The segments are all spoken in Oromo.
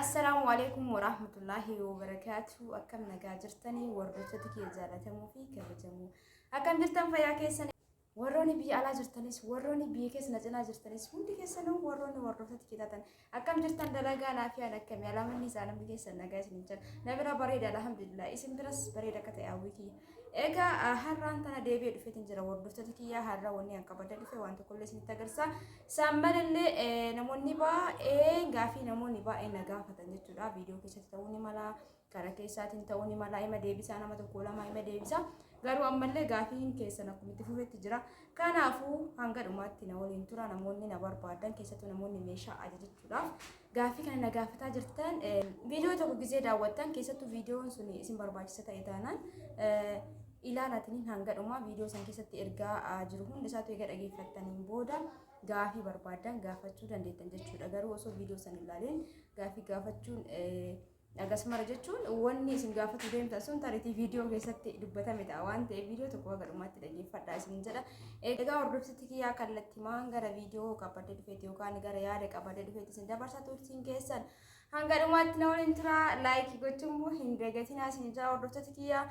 Assalaamu alaikum warahmatullahi wabarakatuh. Akkam nagaa jirtanii hordoftoota kiyya jaalatamuu fi kabajamoo. Akkam jirtan fayyaa keessan warroonni biyya alaa jirtanis warroonni biyya keessa na cinaa jirtanis hundi keessanuu warroonni hordoftoota kiyya taatan Akkam jirtan dalagaa naafiyaan akkami alaamanni isaa namni keessan nagaa isin jira na bira bareeda alhamdulillah isin biras bareeda akka ta'e hawwii kiyya egaa har'aan tana deebi'ee dhufeetiin jira hordoftoota kiyya har'a wanni akka badda dhufe waan tokkollee isinitti agarsiisa isaan malallee namoonni baay'ee gaafii namoonni baay'ee na gaafatan jechuudha viidiyoo keessatti ta'uu ni mala Kara keessaatiin ta'uu ni mala ima deebisaa nama tokko lama ima deebisaa garuu ammallee gaafiin keessan akkuma itti fufetti jira kanaafuu hanga dhumaatti na waliin tura namoonni na barbaadan keessattuu namoonni meeshaa ajajachuudhaaf gaafii kana na gaafataa jirtan viidiyoo tokko gisee daawwattan keessattuu viidiyoon sun isin barbaachisa ta'e taanaan ilaalatiniin hanga dhumaa viidiyoo san keessatti ergaa jiru hundi isaatu eega dhageeffattaniin booda gaafii barbaadan gaafachuu dandeettan jechuudha garuu osoo viidiyoo san ilaaleen gaafii gaafachuun Dhagas mara jechuun wanni isin gaafatu deemtan sun taritii viidiyoo keessatti dubbatame ta'a waan ta'eef viidiyoo tokko haga dhumaatti dhaggeeffadhaa isin jedha. Egaa hordofsitti kiyyaa kallattimaan gara viidiyoo qabadde dhufeeti yookaan gara yaada qabadde dhufeeti isin dabarsaa turtiin keessan. Hanga dhumaatti na waliin tura laayikii gochuun immoo hin dagatinaa isin jedha hordoftoota kiyyaa.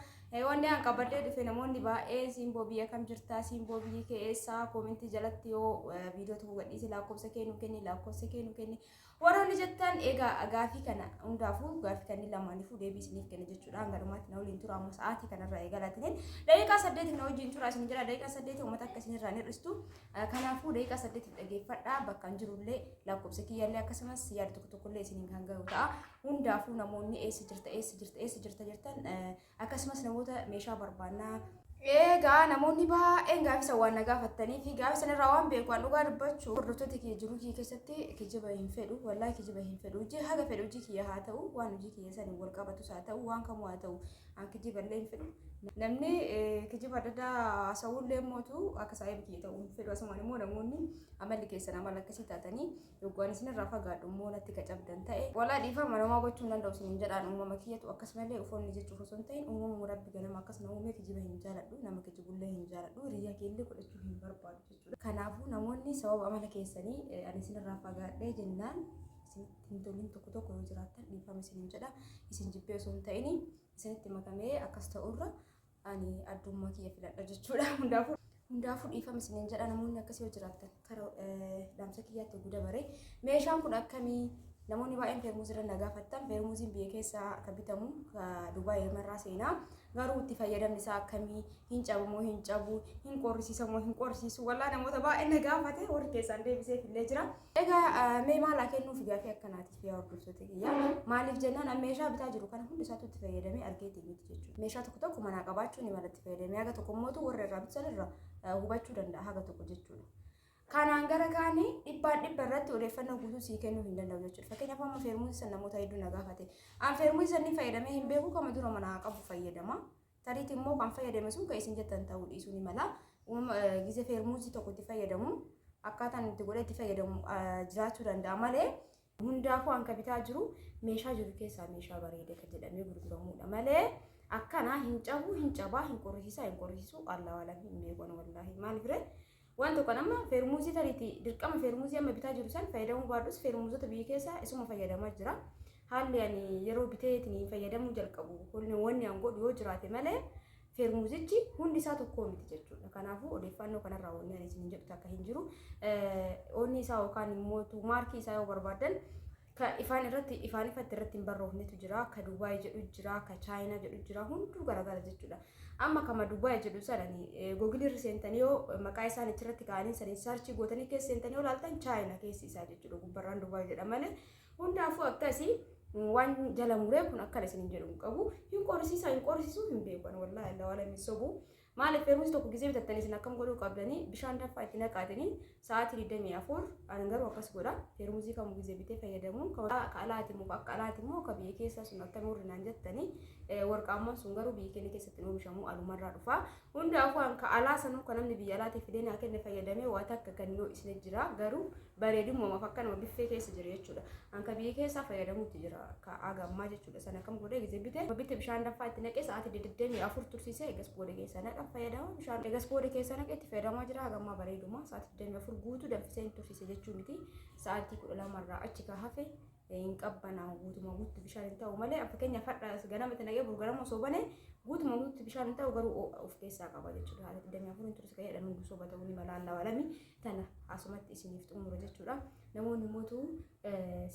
Wanni an qabadde dhufe namoonni baay'ee siimboo biyya kam jirtaa siimboo biyyi kee eessaa koomentii jalatti yoo viidiyoo tokko gadhiise lakkoofsa kee nu kenni lakkoofsa kee nu kenni Warroonni jettan egaa gaafii kana hundaafuu gaafii kanneen lamaaniifuu deebii isiniif kenna jechuudha. Hanga dhumaatti na waliin tura amma sa'aatii kanarraa eegalaatiniin daqiiqaa saddeetiif na wajjin tura isin jira daqiiqaa saddeeti uummata akka isinirraa hin hir'istu. Kanaafuu daqiiqaa saddeetiif dhageeffadha bakka hin jirullee lakkoofsa kiyyaallee akkasumas yaada tokko tokkollee isiniin kan gahu ta'a. Hundaafuu namoonni eessa jirta eessa jirta eessa jirta jettan Akkasumas namoota meeshaa barbaannaa. Eegaa namoonni baay'een gaafii san waan na gaafattanii fi gaafii san irraa waan beeku waan dhugaa dubbachuu hordoftoota kiyya jiruu kiyya keessatti kijiba hin fedhu wallaahi kijiba hin fedhu hojii haga fedhu hojii kiyya haa ta'u waan hojii kiyya san wal qabatus haa ta'u waan kamuu haa ta'u an kijiba illee hin fedhu namni kijiba adda addaa haasa'uu illee mootu akka saayiba kiyya ta'u hin fedhu asumaan immoo namoonni amalli keessan amala akkasii taatanii Yoggu ani isinirraa fagaadhu immoo natti ka cabdan ta'e walaa dhiifama namaa gochuu hin danda'u isinin jedhaan uumama kiyyatu akkas malee ufoonni jechuuf osoo hin ta'in uumamuma rabbi ganama akkas na uumee kijiba hin jaaladhu nama kijibullee hin jaaladhu riyaa keellee godhachuu hin barbaadu jechuudha. Kanaafuu namoonni sababa amala keessanii eh, ani isinirraa fagaadhee jennaan isinitti hin tolin tokko tokko yoo jiraattan dhiifama isinin jedha isin jibbee osoo hin ta'in isinitti makamee akkas ta'urra ani addummaa kiyya filadha jechuudha hundaafuu hundaafuu dhiifama isiniin jedha namoonni akkasii yoo jiraattan karaa dhaamsa kiyyaatti guddaa bare meeshaan kun akkamii namoonni baay'een feermuuzii irra na gaafattan feermuuziin biyya keessaa akka bitamu dubaay irraa seenaa garuu itti fayyadamni isaa akkamii hin cabamoo hin cabu hin qorrisiisamoo hin qorrisiisu walaa namoota baay'een na gaafate warri keessaan deebiseef illee jira. Egaa mee maal haa kennuuf gaafii akkanaatiif yaa hordoftoota kiyya maaliif jennaan an meeshaa bitaa jiru kana hundi isaatu itti fayyadamee argeetii miti jechuudha. Meeshaa tokko tokko manaa qabaachuu ni mala itti fayyadamee haga tokko mootu warra irraa bitan irra hubachuu danda'a haga tokko jechuudha. Kanaan gara kaanii dhibbaan dhibba irratti odeeffannoo guutuu sii kennuu hin danda'u jechuudha. Fakkeenyaaf amma feermuuzi san namoota hedduu na gaafate. An feermuuzi san ni fayyadamee hin beeku kama dura manaa qabu fayyadama. Tariiti immoo kan fayyadame sun kan isin jettan ta'uu dhiisuu ni mala. Uumama gize feermuuzii tokko itti fayyadamu akkaataan itti godhee itti fayyadamu jiraachuu danda'a malee hundaafuu hanka bitaa jiru meeshaa jiru keessaa meeshaa bareedee kan jedhamee gurguramudha malee akkana hin cabuu hin cabaa hin qorrisiisaa hin qorrisiisuu allaa waalam hin beekan wallaahi maal bire Waan tokkan amma feermuuzii tariiti dirqama feermuuzii amma bitaa jiru san fayyadamuu baadhus feermuuzota biyya keessaa isuma fayyadamaa jira. Haalli ani yeroo biteetiin fayyadamuu jalqabu kun wanni an godhu yoo jiraate malee feermuuzichi hundi isaa tokkoo miti jechuudha. Kanaafuu odeeffannoo kanarraa wanni ani isin jedhu takka hin jiru. Onni isaa yookaan immoo maarkii isaa yoo barbaadan Ka ifaan irratti ifaan ifatti irratti hin barroofnetu jira. Ka Dubaay jedhu jira. Ka Chaayinaa jedhu jira. Hunduu garagara jechuudha. Amma kama Dubaay jedhu sanani googilii irra seentanii yoo maqaa isaan achirratti kaa'anii saniin saarchii gootanii keessa seentanii yoo laaltan Chaayinaa keessi isaa jechuudha. Gubbarraan Dubaay jedha malee. Hundaafuu akkasii waan jala muree kun akkana isin hin jedhu hin qabu. Hin qorisiisaa hin qorisiisuu hin beekan wallaahi Allah wala hin sobu. Maaliif feermusi tokko gizee bitattanii isin akkam godhuu qabdanii bishaan danfaa itti naqaatanii sa'aatii 24 ani garuu akkas godha feermusii kamu gizee bitee fayyadamuun ka alaati immoo akka alaati immoo ka biyya keessaa sun akka nuurri naan jettanii warqaammoon sun garuu biyya keenya keessatti hin oomishamu alumarraa dhufa hundaafuu an ka alaa sanuu ka namni biyya alaatii fidee naa kenne fayyadamee waa takka kan yoo isne jira garuu bareedu uumamaaf akkanuma biffee keessa jira jechuudha. Anka biyya keessaa fayyadamuutti jira ka aga ammaa jechuudha. Sana kam godhee gisee bite bitte bishaan danfaa itti naqee sa'aatii deddeemii afur tursiisee egas booda keessa naqa fayyadama bishaan egas booda keessa naqee itti fayyadamaa jira aga ammaa bareeduma sa'aatii deddeemii afur guutuu danfisee hin tursiise jechuu miti sa'aatii kudha lamarraa achi ka hafe hin qabbanaa'u guutuma guutti bishaan hin ta'u malee fakkeenyaaf hadha ganama itti naqee burgarama osoo bane guutuma guutti bishaan hin ta'u garuu of keessaa qaba jechuudha haala digdamii afuriin tursi kan jedhamu gusoo bata'uu ni mala allaa walami tana asumatti isiniif xumura jechuudha namoonni mootu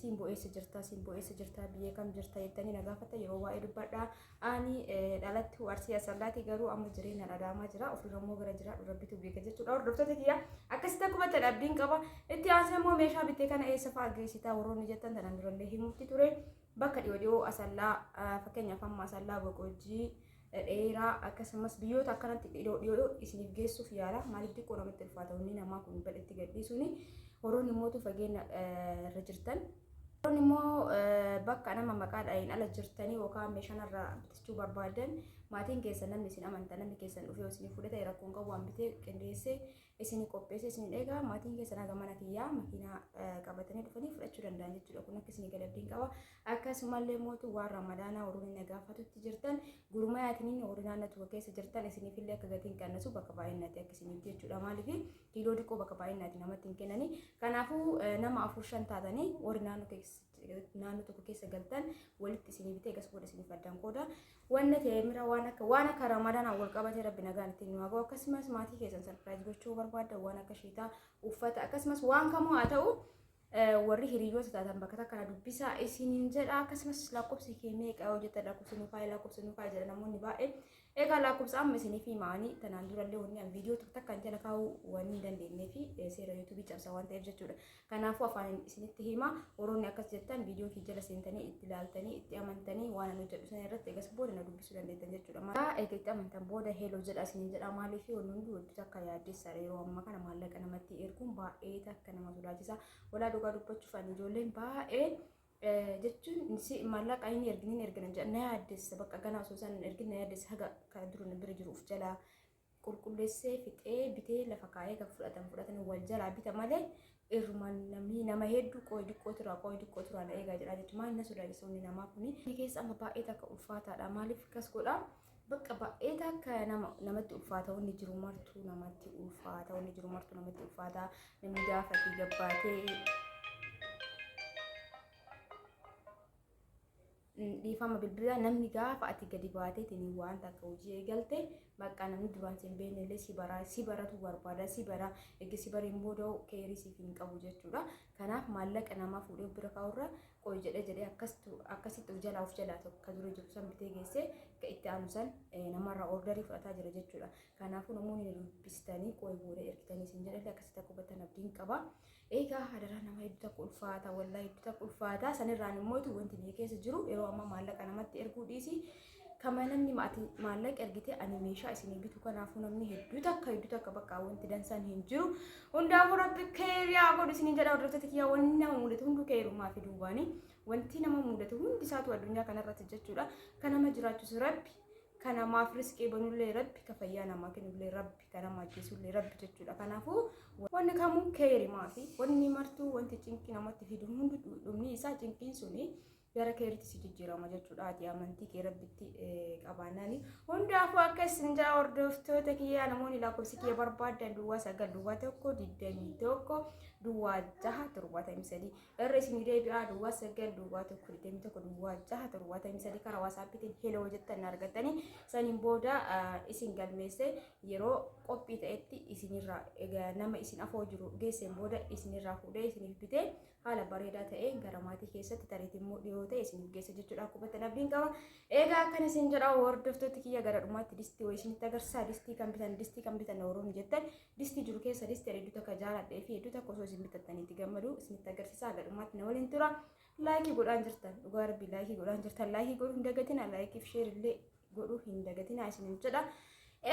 siin bo'eessa jirta siin bo'eessa jirta biyyee kam jirta jettanii na gaafata yeroo waa'ee dubbadha Ani dhalattuu Arsii Asallaati garuu amma jireenyaan Adaamaa jira. Ofirra immoo gara jiraadhu rabbitu beeka jechuudha. Hordoftoota kiyya akkasitti akkuma ta'e abdiin qaba. Itti aansee immoo meeshaa bittee kana eessa fa'aa geessitaa warroonni jettan tanaan durallee himuutti ture. Bakka dhiyoo dhiyoo Asallaa fakkeenyaaf amma Asallaa Boqojjii dheeraa akkasumas biyyoota akkanatti dhiyoo dhiyoo isiniif geessuuf yaala. Maaliif xiqqoo namatti ulfaata wanni namaa kun badhetti gadhiisuuni. Warroonni mootu fageenya irra jirtan Kun immoo bakka nama maqaa dha'iin ala jirtanii yookaan meeshaan irraa bitachuu barbaadan maatiin keessan namni isin amanta namni keessan dhufee isin fuudhee ta'e rakkoon qabu waan bitee qindeessee isin qopheessee isin eegaa maatiin keessan haga mana kiyyaa makiinaa qabatanii dhufanii fudhachuu danda'an jechuudha kun akka isin gadabdiin qaba akkasumallee mootu waan ramadaanaa warroonni nagaafatutti jirtan gurmaayaatiin warri naannoo tokko keessa jirtan isiniifillee akka gatiin qannasu bakka baay'inatti akka isiniif jechuudha maaliif kiiloo xiqqoo bakka baay'inaati namatti hin kennani. Kanaafuu nama afur shan taatanii warri naannoo keessa naannoo tokko keessa galtan walitti isinii bitee gas booda isiniif addaan qooda. Wanna teemira waan akka waan akka ramadaanaan wal qabatee rabbi nagaan ittiin nu hagoo akkasumas maatii keessan sarpiraayiz gochuu barbaadda waan akka shiitaa uffata akkasumas waan kamuu haa ta'u warri hiriyoota taatan bakka takka na dubbisaa isiniin jedha akkasumas lakkoofsi kee meeqa yoo jettan lakkoofsi nuuf haa'e lakkoofsi nuuf haa'e jedha namoonni baay'een egaa lakkoofsa amma isiniif himaanii tanaan durallee wanni an viidiyoo tokko takka jala kaa'uu waan hin dandeenyee fi seera yuutuubii cabsa waan ta'eef jechuudha kanaafuu afaan isinitti hima warroonni akkas jettan viidiyoo kee jala seentanii itti ilaaltanii itti amantanii waan an hojjedhu sana irratti egas booda na dubbisuu dandeettan jechuudha maqaa eega itti amantan booda heeloo jedha isiniin jedha maaliif wanni hundi wajjin akka yaaddeessaadha yeroo ammaa kana maallaqa namatti erguun baay'ee kan nama sodaachisa walaa dhugaa dubbachuuf ani ijoolleen baay'ee jechuun si maallaqa inni erginiin ergina jedha na yaaddessa bakka ganaa osoo isaan hin ergin na yaaddessa haga kana dura na bira jiruuf jalaa qulqulleessee fixee bitee lafa kaa'ee kan fudhatan fudhatan wal jalaa bita malee irrumaan namni nama hedduu qooyi diqqoo turaa qooyi diqqoo turaa na eegaa jedha jechuun maal na sodaachisa inni namaa kuni. Inni keessa amma baay'ee takka ulfaataadha maaliif akkas godhaa. Bakka baay'ee takka nama namatti ulfaata wanni jiru martuu namatti ulfaata wanni jiru martuu namatti ulfaata namni gaafate gabbaatee Mm, dhiifama bilbilaa namni gaafa ati gadi baateetiin waan takka hojii eegalte bakka namni duraan sin beekne illee si baraa si baratu barbaada si bara egaa si bareen booda keerii siif hin qabu jechuudha kanaaf maallaqa namaa fuudhee bira kaa'urra qoy jedhee jedhee akkastu akkasitti of jalaa of jalaa tokko ka dura jiru san bitee geessee ka itti aanu san eh, namarraa ordarii fudhataa jira jechuudha. Kanaafuu namoonni na dubbistanii qoy booda ergitanii isin jedhallee akkasitti akka hubattan abdiin qaba. Egaa hadaraa nama hedduu takka ulfaata wallaahi hedduu takka ulfaata sanirraan immoo wanti biyya keessa jiru yeroo ammaa maallaqa namatti erguu dhiisii Kama namni maati maallaqa ergite ani meeshaa isin bitu kanaafuu namni hedduu takka hedduu takka bakka wanti dansaan hin jiru. Hundaafuu rabbi keeriyaa godhu isin jedha hordoftoota kiyyaa wanni nama mudatu hunduu keerummaa fi duubaani. Wanti nama mudatu hundi isaatu addunyaa kanarratti jechuudha. Kan nama jiraachisu rabbi. Kan namaaf risqii banullee rabbi. Kan fayyaa namaa kennullee rabbi. Kan nama ajjeesullee rabbi jechuudha. Kanaafuu wanni kamuu keerimaa fi wanni martuu wanti cinqii namatti fidu hundi dhumni isaa cinqiin suni gara keeritti si jijjiirama jechuudha ati amantii kee rabbitti qabaannaani hundaafuu akka isin jaa hordoftoota kiyyaa namoonni lakkoofsi kiyya barbaadan duwwaa sagal duwwaa tokko digdamii tokko duwwaa jaha torbaatamii sadii irra isin deebi'aa duwwaa sagal duwwaa tokko digdamii tokko duwwaa jaha torbaatamii sadii karaa waasaappiitiin heloo jettan argatanii saniin booda isin galmeessee yeroo qophii ta'etti isinirraa nama isin afoo jiru geesseen booda isinirraa fuudhee isiniif bitee haala bareedaa ta'een gara maatii keessatti tareetii immoo dhiyoo ta'e isiniif geessa jechuudha akkubatti abdiin qaba. Egaa akkan isin jedha hordoftooti kiyya gara dhumaatti distii wayii isinitti agarsiisa distii kan bitan distii kan bitan warroonni jettan distii jiru keessa distii hedduu takka jaaladhee fi hedduu takka osoo isin bitattaniitti gammadu isinitti agarsiisa gara dhumaatti na waliin tura. Laayikii godhaan jirtan dhugaa rabbii laayikii godhaan jirtan laayikii godhuun dagatina laayikii fi sheerillee godhuu hin dagatinaa isinin jedha.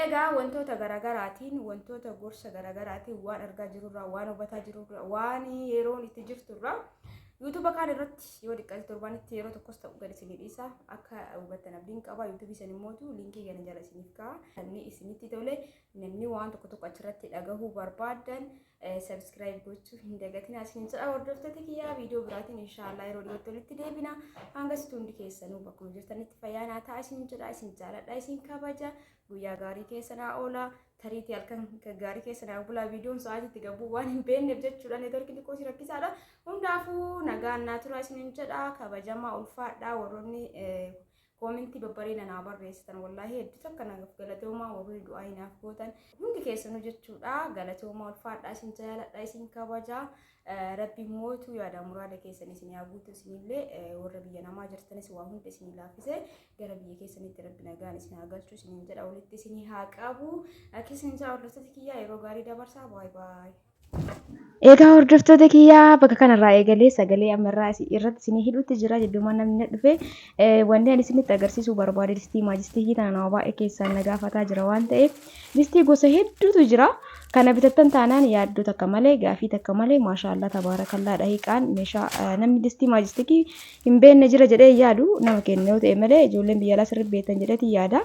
Egaa wantoota garaagaraatiin wantoota gorsa garaagaraatiin waan argaa jirurraa waan hubataa jirurraa waan yeroon itti jirturraa yuutuuba kaan irratti yoo xiqqaate torbaanitti yeroo tokkos ta'u gad isinii dhiisa akka hubattan abdiin qaba yuutuubii isin immootu liinkii gana jala isiniif ka'a namni isinitti tole namni waan tokko tokko achirratti dhagahuu barbaadan Subscribe gochuu hin dagatinaa isiniin jedha hordoftoota kiyyaa viidiyoo biraatiin inshaallah yeroo dhiyootti walitti deebina hanga situ hundi keessanuu bakkuma jirtanitti fayyaa naa ta'a isiniin jedha isin jaaladha isin kabaja guyyaa gaarii keessanaa oola tariitii halkan gaarii keessanaa bulaa viidiyoon sa'aatiitti gabuu waan hin beekneef jechuudha neetworkii xiqqoo si rakkisaadha hundaafuu nagaan naa tura isiniin jedha kabajamaa ulfaadha warroonni Koomentii babbareeda naa barreessitan wallaahi hedduu takka nagaaf galatoomaa warri du'aa hinaaf gootan hundi keessanuu jechuudha galatoomaa ulfaadhaa isin jaaladha isin kabaja rabbi mootu yaada muraada keessan isin yaa guutu isinillee warra biyya namaa jirtanis waa hunda isin laaffise gara biyya keessanitti rabbi nagaan isin haa galchu isinin jedha walitti isin haa qabu akkasiin isaa hordoftoota kiyyaa yeroo gaarii dabarsaa baay baay. Egaa hordoftoota kiyyaa bakka kanarraa eegalee sagalee ammarraa isin irratti isinii hidhuutti jira jidduumaan namni na dhufe Eh, wanni ani isinitti agarsiisuu barbaade distii maajistikii tana nama baay'ee keessaan na gaafataa jira waan ta'eef distii gosa hedduutu jira kana bitattan taanaan yaaddoo takka malee gaafii takka malee maashaallaa tabaarakallaa dhahiqaan meeshaa eh, namni distii maajistikii hin beekne jira jedhee hin yaadu nama kenna yoo ta'e malee ijoolleen biyya alaa sirri beektan jedheeti yaada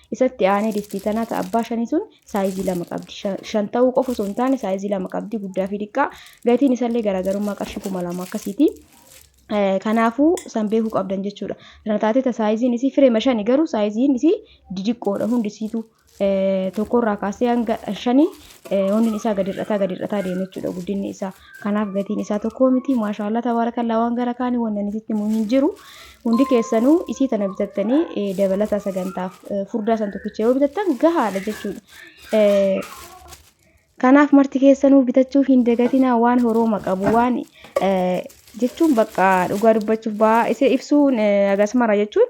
Isatti aanee distii tanaa ta abbaa shanii sun saayizii lama qabdi. Shan ta'uu qofa osoo hin taane saayizii lama qabdi guddaa fi diqqaa. Gatiin isallee garaagarummaa qarshii kuma lama akkasiiti. Kanaafuu san beekuu qabdan jechuudha. Tana taatee ta saayiziin isii fireema shani garuu saayiziin isii didiqqoodha hundi isiitu tokkorraa kaasee hanga shanii hundi isaa gadi hir'ataa gadi hir'ataa deema jechuudha guddinni isaa. kanaaf gatiin isaa tokkoo miti maashaa Allah tabaarakallaa waan gara kaani wannan isitti himu hin jiru hundi keessanuu isii tana bitattanii eh, dabalataa sagantaaf eh, furdaa san tokkicha yoo bitattan gahaadha jechuudha Eh, Kanaaf marti keessanuu bitachuu hin dagatinaa waan horooma qabu waan eh, jechuun bakka dhugaa dubbachuuf ba'aa isa ibsuun eh, agasmara jechuun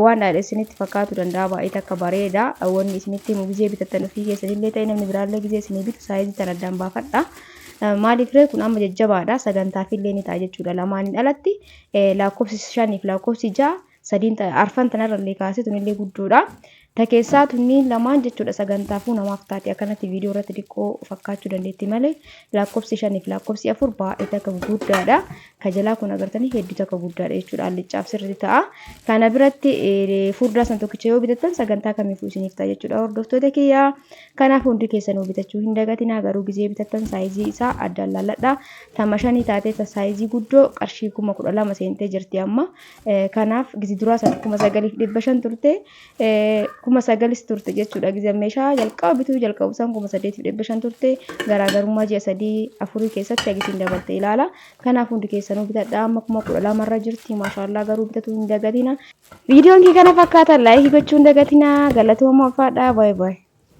Waan dhaadhe isinitti fakkaatu danda'a baay'ee takka bareeda. Wanni isinitti himu gizee bitattan ofii keessanillee ta'e namni biraallee gizee isinii bitu saayizii tan addaan baafadha. Maaliif ree kun amma jajjabaadha sagantaafillee ni ta'a jechuudha. Lamaaniin alatti lakkoofsi shaniif lakkoofsi ja'a sadiin arfan tanarrallee kaasee tunillee guddoodha. Ta keessaa tunniin lamaan jechuudha sagantaafuu namaaf taati akkanatti viidiyoo irratti diqqoo fakkaachuu dandeetti malee laakkofsi shaniif laakkofsi afur baay'ee takka guguddaadha ka jalaa kun agartanii hedduu takka guddaadha jechuudha alliccaaf sirriitti ta'a kana biratti furdaa san tokkicha yoo bitattan sagantaa kamiifuu isiniif ta'a jechuudha hordoftoota kiyya kanaaf hundi keessanuu bitachuu hin dagatinaa garuu gizee bitattan saayizii isaa addaan laalladha tama shanii taatee ta saayizii guddoo qarshii kuma kudha lama seentee jirti amma kanaaf gizii duraa san kuma sagaliif dhibba shan turte kuma sagalis turte jechuudha gizan meeshaa jalqaba bituu jalqabu san kuma saddeetiif dhibba shan turte garaagarummaa ji'a sadii afurii keessatti agisiin dabalte ilaala kanaaf hundi keessanuu bitadhaa amma kuma kudha lama irra jirti maashaallaa garuu bitatuu hin dagatina viidiyoon kee kana fakkaata laayikii gochuun dagatina galatooma ulfaadhaa baay'ee baay'ee.